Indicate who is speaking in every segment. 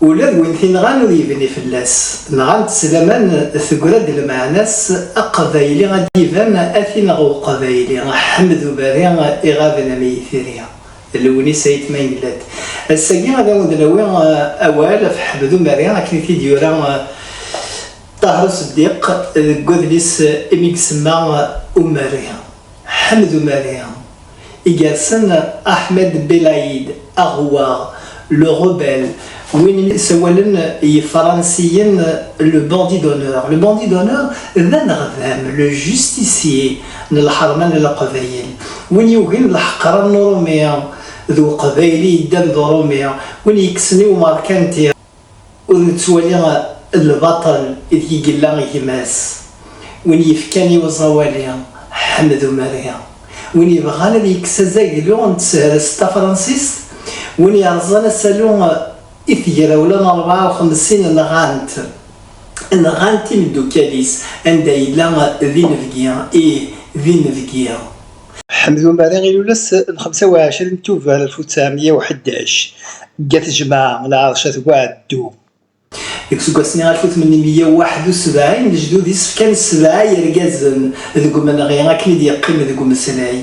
Speaker 1: ula d win t-inɣan ur yebni fell-as nɣant s laman tegra-d lmeɛna-s aqbayli ad d-iban ad t-ineɣ uqbayli ḥmed ubari iɣaben am yitri lewnis ayt ma yella-d ass-agi ad awen-d-nawi awal ɣef ḥmed ubari akken i t-id-yura Ṭaher Useddiq deg wadlis imi gesemma Umari, Ḥmed Umari, i gersen Ahmed Belaid Aghouar, Le Rebelle, win i sawalen yifransiyen Le Bandit d'honneur. Le Bandit d'honneur d aneɣdam, le justicier, n lḥerma n Leqbayel, win yugen leḥqra n Urumi d Uqbayli yeddan d Urumi, win yekksen i Umarkanti, Ur nettwali lbaṭel ideg i yella gma-s, win yefkan i uẓawali Ḥmed Umari, win yebɣan ad yekkes azaglu n tehrest tafransist, win yerẓan asalu i tegrawla n rebɛa u xemsin nɣan-t, nɣan-t imeddukal-is anda yella d inebgi, ih, d inebgi. Ḥmed Umari ilul ass n xemsa u ɛecrin tuber alef u ttɛemya u ḥdac deg At Jmaɛ, Lɛerc At Buɛeddu. Deg useggas-nni alef u tmenni meyya u waḥed u sebɛin, lejdud-is fkan sebɛa yergazen deg umenɣi akken i d-yeqqim deg umeslay,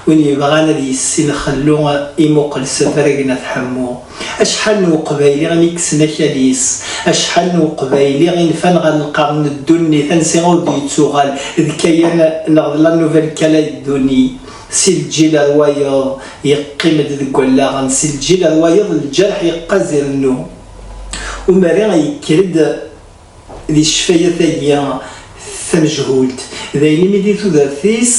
Speaker 1: Win yebɣan ad yessin xellu imuqel s afrag n At Ḥemmu. Acḥal n uqbayli i nekksen akal-is, acḥal n uqbayli i nfan ɣer lqern n ddunit ansi ur d-yettuɣal d Kayan neɣ d La Nouvelle Calédonie, si lǧil ar wayeḍ yeqqim-d deg wallaɣen, si lǧil ar wayeḍ lǧerḥ yeqqaz irennu. Umari yekker-d. Di ccfayat-agi tamejhult, d ayen imi di tudert-is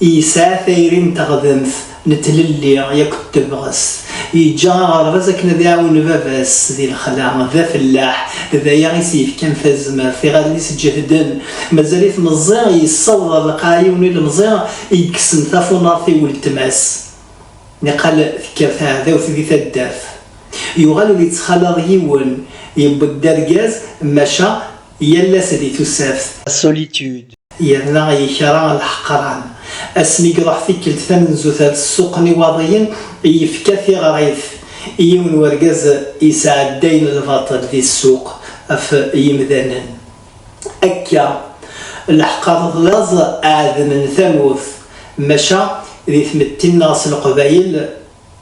Speaker 1: yesɛa tayri n teɣdemt, n tlelli yakk d tebɣest, yeǧǧa aɣerbaz akken ad iɛawen baba-s di lexla, d afellaḥ, d aya i s-yefkan tazmert, iɣallen-is ǧehden, mazal-it meẓẓi, yessaweḍ ar lqaɛ yiwen ilemẓi i yekksen tafunart i weltma-s. Niqal tekker teɛdawt di taddart. Yuɣal ur yettxalaḍ yiwen. Yewweḍ-d argaz, maca yal ass di tussaft. Solitude. Yerna yekra leḥqran. Asmi i iruḥ tikkelt tamenzut ar ssuq n Iwaḍiyen, yefka tiɣrit i yiwen wergaz yesɛeddayen lbaṭel di ssuq ɣef yimdanen. akka lḥeqqa d laẓ ɛedm n tamurt maca di tmetti nneɣ s leqbayel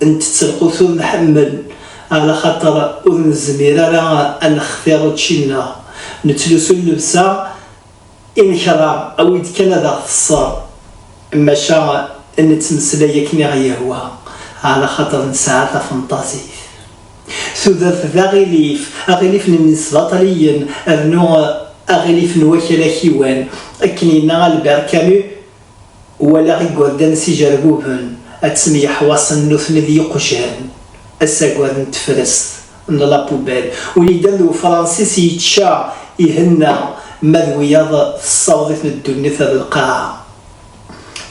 Speaker 1: ntett lqut ur nḥemmel ala xaṭer ur nezmir ara a nextir učči nneɣ nettlusu llebsa i nekra awi d kan ad aɣ teṣṣer maca nettmeslay akken i ɣ yehwa ala xaṭer nesɛa tafenṭazit. Tudert d aɣilif, aɣilif n yisbaṭliyen rnu aɣilif n wakal akiwan. Akken yenna Albert Camus, Walaɣ igerdan s ijerbuben, ad ttemyeḥwaṣen nutni d yiqjan, asaggar n tefrest, n la poubelle. Win yeddan d ufransis yečča, ihenna, ma d wiyaḍ tessaweḍ-iten ddunit ar lqaɛa.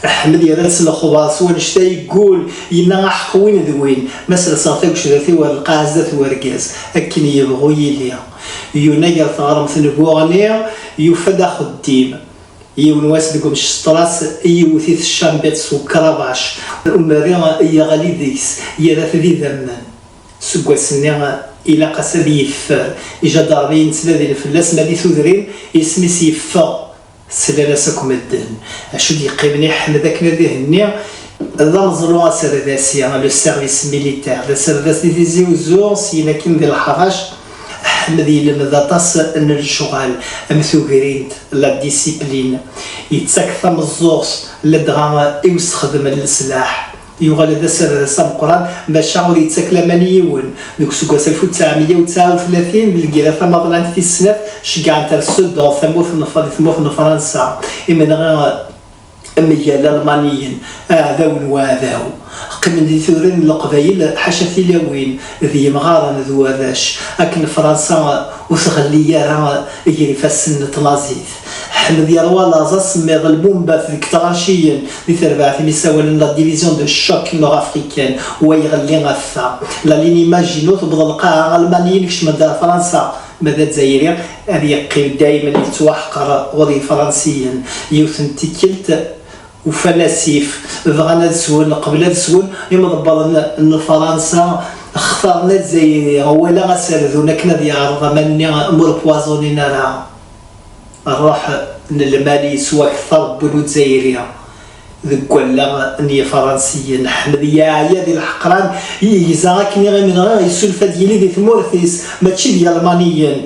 Speaker 1: Ḥmed yerra-d s lexber, s wannect-a yeggul, yenna aḥeq win d win, ma serseɣ tagecdat-iw ar lqaɛa zdat n wergaz, akken yebɣu yili. Yuna gar teɣremt n Buɣni, yufa-d axeddim. Yiwen wass deg umceṣṭras, yewwet-it ccambiṭ s ukrabac. Umerri yeɣli deg-s, yerra-t d idammen. Seg wass-nni, ilaq-as ad yeffer. Ijadarmiyen ttnadin fell-as, ma di tudrin, isem-is yeffeɣ. Slan-as akk medden. Acu d-yeqqimen i Ḥmed akken ad ihenni d ameẓlu aserdasi, le service militaire, d aserdas di Tizi Uzzu, syin akkin di Lḥarac. Ḥmed ilemmed aṭas n lecɣal am tugrint, la discipline, yettak tameẓẓuɣt, ladɣa i usexdem n leslaḥ. Yuɣal d aserdas ameqqran, maca ur yettak laman i yiwen. Deg useggas alef u ttɛemya u tesɛa u tlatin, deg lgirra tamaḍlant tis snat, ceggɛent ar Sedan, tamurt n di tmurt n Fransa, imenɣi mgal Almaniyen, aɛdaw n waɛdaw. Qqimen di turin n Leqbayel, ḥaca tilawin d yimɣaren d warrac, akken Fransa ur tɣelli ara ger ifassen n tnaẓit. Ḥmed yerwa laẓ asemmiḍ, lbumbat deg tɣerciyin, di terbaɛt i mi ssawalen la division de choc nord-africaine, wa iɣelli ɣef ta. La ligne i Maginot tewweḍ lqaɛa, Almaniyen kecmen-d ar Fransa, ma d Azzayri ad yeqqim daymen yettwaḥqer ɣur Yefransiyen. Yiwet n tikkelt ufan asif, bɣan ad swen, qbel ad swen, imḍebbren n Fransa xtaren Azzayri, walaɣ ad s-rdun akken ad yeɛreḍ aman-nni m'ur poisonin ara. Rruḥ n lmal yettwakter n win ur zzayri deg wallaɣ n yifransiyen. Ḥmed yeɛya di leḥqran i yegza akken iɣimi dɣa yessulef ad yili di tmurt-is mačči d yalmaniyen.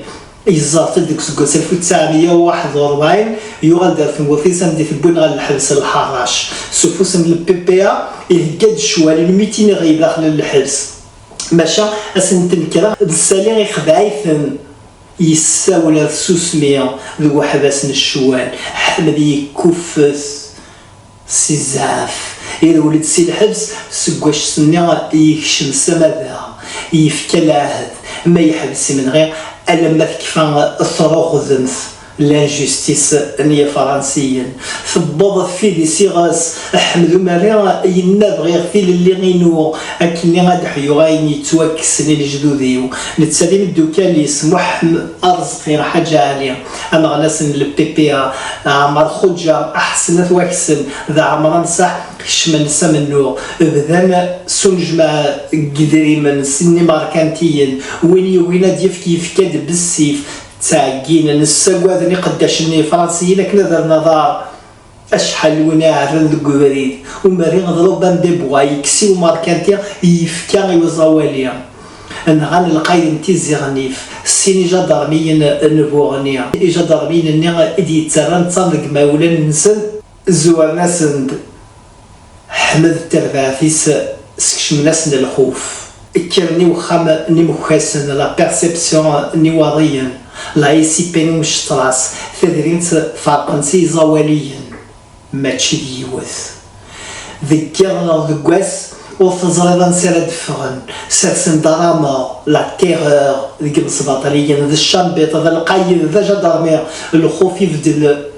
Speaker 1: Yeẓẓerfed deg useggas alef u ttɛemya u waḥed u ṛebɛin, yuɣal-d ar tmurt-is anda i t-wwin ɣer lḥebs n Lḥaṛṛac. S ufus n LPPA ihegga-d ccwal n mitin iɣi daxel n lḥebs, maca ass n tnekra d ssali ixdeɛ-iten. Yessawel ɣer tsusmi deg uḥbas n ccwal, Ḥmed yekkuffet si zzɛaf, irwel-d si lḥebs seg waccet-nni yekcem s amada, yefka lɛehd ma yeḥbes imenɣi alamma tekfa truɣdemt, l'injustice, n yefransiyen, tewweḍ tfidi s iɣes. Ḥmed Umerri yenna, Bɣiɣ tilelli inu, akkenni ad ḥyuɣ ayen yettwakksen i lejdud-iw, netta d imeddukkal-is, Muḥ-m Areẓqi, Ḥaǧa Ɛli, aneɣlas n LPPA, Ɛmer Xuǧa, Aḥsen At Waksen d Ɛemran Saḥ kecmen s amennuɣ, bdan s unejmaɛ n yedrimen s yimerkantiyen, win yugin ad d-yefk yefka-d bessif, ttɛegginen, ssagaden iqeddacen n yefransiyen akken ad rren aḍar. Acḥal n win iɛerren deg ubrid umri d Robin des Bois yekkes i umerkanti yefka i uẓawali, nɣan lqayed n Tizi Ɣennif sin ijadermiyen n Buɣni, ijadermiyen-nni i d-yettarran ttaṛ deg yimawlan-nsen, zzuren-asen-d. Ḥmed d terbaɛt-is skecmen-asen lxuf. Kkren i wexxam n imekkasen, la perception, n Iwaḍiyen, la ICP n Umectras, tadrimt ferqen-tt iẓawaliyen, mačči d yiwet. Deg yiḍ neɣ deg wass, ur teẓriḍ ansi ara d-ffɣen, sersen-d arameɣ, la terreur, deg yimesbaṭliyen, d cambit, d lqayed, d ajadarmi, lxuf ibeddel.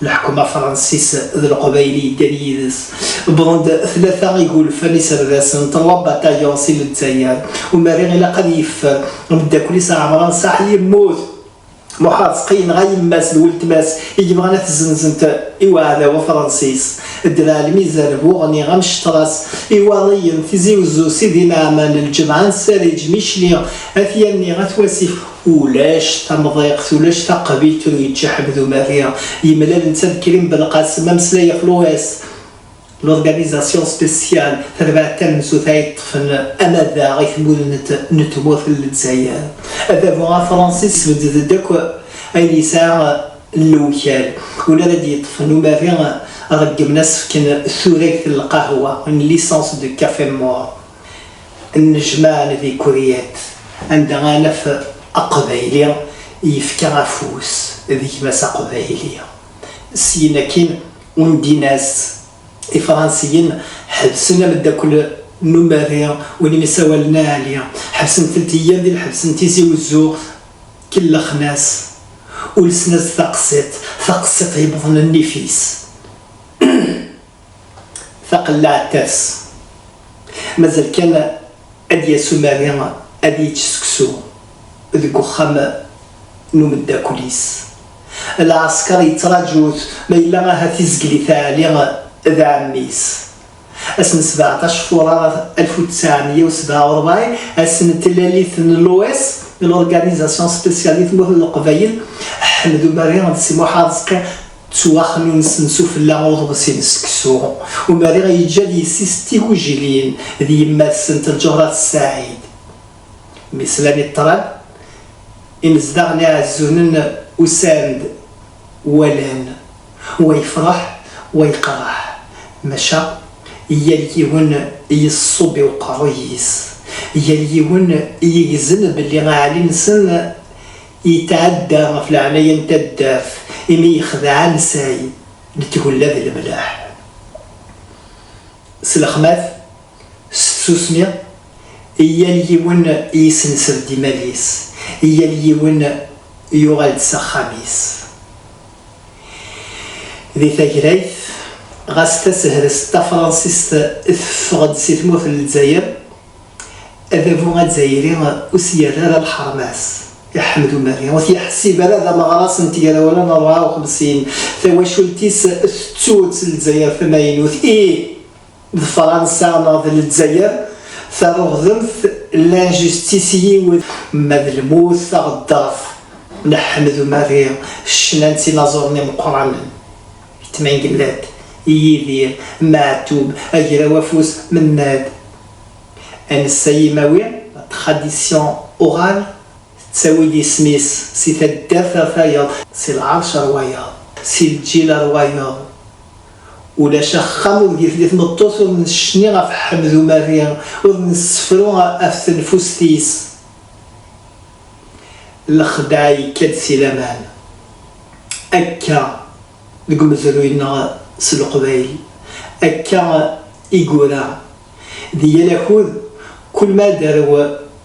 Speaker 1: Lḥekma Fransis d Leqbayel yeddan yid-s, wwḍen-d tlata igulfan iserdasen n Trois Bataillons si Lezzayer. Umari ilaq ad yeffer ameddakel-is Ɛemran Saḥ yemmut. Muḥar Seqi yenɣa yemma-s d weltma-s i yebɣan ad t-zenzent i uɛdaw afransis. Ddreɛ Lmizan bu Ɣni amecṭer-as iwaḍiyen Tizi Uzzu Sidi Naɛman Lǧemɛa Nsariǧ Michli At Yanni At Wasif Ulac tamḍiqt, ulac taqbilt ur yečči Ḥmed Umari. Yemlal netta d Krim Belqasem, ameslay ɣef l'OS, l'Organisation Spéciale, tarbaɛt tamenzut ay yeṭṭfen amadaɣ i tmudemt n tmurt n Lezzayer. Adabu afṛansi yesbedd-d akk ayen yesɛa n lewkal. Win ara d-yeṭṭfen Umari, reggmen ad as-fken turagt n lqahwa, une licence de café mort. nnejmaɛ n di Kuryat anda ara naf aqbayli yefka afus d gma-s aqbayli. Syin akkin undin-as Ifransiyen ḥebsen ameddakel n umerri win i m-isawalen a Ali, ḥebsen-tent yyan di lḥebs n Tizi Wezzu, kellxen-as, ulsen-as-d taqsiṭ, taqsiṭ yewwḍen nnif-is. taqellaɛt ters. Mazal kan ad d-yas umari ad yečč seksu deg uxxam n umeddakel-is. Lɛesker yettraǧu-t ma yella ahat izgel-it Ɛli d ɛemmi-s. Ass n sbeɛṭac furar alef u ttɛemya u sebɛa u rebɛin, ass n tlalit n l'OS, l'Organisation Spéciale di tmurt n Leqbayel, Ḥmed Umari d Si Muḥ Areẓqi Ttwaxnunsen sufella uḍebsi-n seksu, umari i yeǧǧa d yessi-s d tigujilin d yemma-tsent Lǧehra Ssaɛid. Mi slan i ṭṭrad, imezdaɣ n Iɛezzunen usan-d, walan, wa yefreḥ, wa yeqreḥ, maca yal yiwen yeṣṣub i uqerruy-is, yal yiwen yegzen belli aɛli-nsen, Yetɛedda ɣef leɛnaya n taddart imi yexdeɛ ansay n tgella d lemleḥ. S lexmat, s tsusmi, yal yiwen yesnesred imal-is, yal yiwen yuɣal-d s axxam-is. Di tagrayt, ɣas tasehrest tafransist teffeɣ-d si tmurt n Lezzayer, Adabu azzayri ur s-yerri ara lḥerma-s i Ḥmed Umari, ur t-yeḥsib ara d ameɣras n tegrawla n rebɛa u xemsin, tawacult-is tettu-tt Lezzayer tamaynut, ih, d Fransa neɣ d Lezzayer taruɣdemt, l'injustice, yiwet. Ma d lmut taɣeddart n Ḥmed Umari, ccna n tinaẓuren imeqqranen. Tmengellett i Yidir, Meɛtub, Agraw Afus, Mennad. Anessa imawi, tradition orale, tettawi-d isem-is si taddart ɣer tayeḍ. Si lɛerc ar wayeḍ, si lǧil ar wayeḍ. Ulac axxam ur d-yefli tmeṭṭut ur necni ɣef Ḥmed Umerri, ur nessefru af tenfust-is. Lexdeɛ yekka-d si laman. Akka deg umezruy-nneɣ s leqbayel, akka i yura di yal akud, kul ma ad d-tarew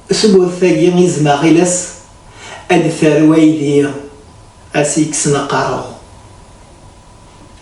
Speaker 1: tmurt-agi izem aɣiles, ad d-tarew aydi a s-yekksen aqerru.